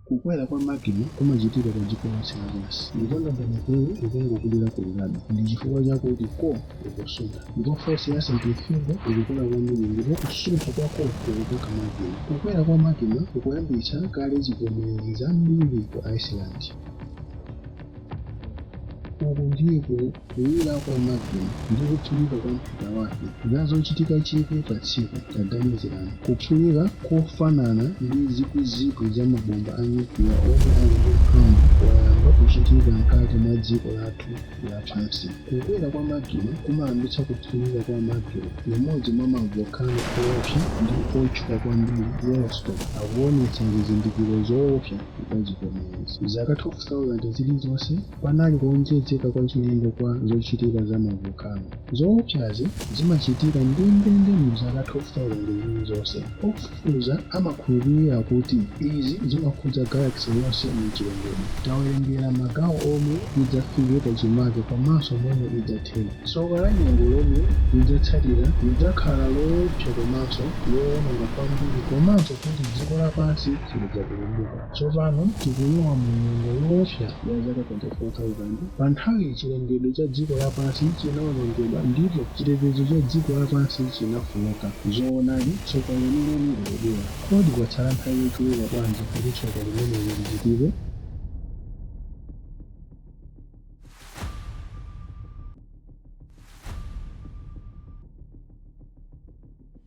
kukwera kwa magma kumachitika pa dziko lonse lapansi ndipo ndondomekoyo ikungokulira kulirabe ndi chifukwa chakuti core ikusuntha, ndipo force ya centrifugal ikukula kwambiri ndipo kusuntha kwa core kukukoka magma. Kukwera kwa magma kukuyambitsa kale zivomezi zambiri ku Iceland. Uku ndiko kuwira kwa magma ndi kuphulika kwa mphika wake zochitika chikwi pa tsiku. Taganizirani kuphulika kofanana ndi zikwizikwi za mabomba a nyukliya omwe ali ndi mphamvu kwayamba kuchitika mkati mwa dziko lathu. lapansi. Kukwera kwa magma kumayambitsa kuphulika kwa magma, limodzi mwa mavolcano oopsa ndi otchuka kwambiri, Yellowstone, akuwonetsa zizindikiro zoopsa za zivomezi. Zaka 12,000 zilizonse, panali kuwonjezeka kwachilendo kwa zochitika za mavolcano. Zowopsazi zimachitika ndendende mu zaka 12,000 zilizonse. Ofufuza amakhulupirira kuti izi zimakhudza galaxy yonse mu chilengedwe. Tawerengera magawo omwe idzafika pachimake komanso momwe idzathera. Tsoka la nyengo lomwe lidzatsatira lidzakhala lowopsa komanso lowononga kwambiri komanso kuti dziko lapansi silidzapulumuka. Tsopano tikulowa mu nyengo yoopsa ya zaka 24,000. Pa nthawiyi chilengedwe cha dziko lapansi chinawonongedwa ndipo chitetezo cha dziko lapansi chinafooka. Zoonadi, tsoka lenileni likubwera. Kodi kwatsala nthawi yochuluka bwanji kuti tsoka limeneli lichitike?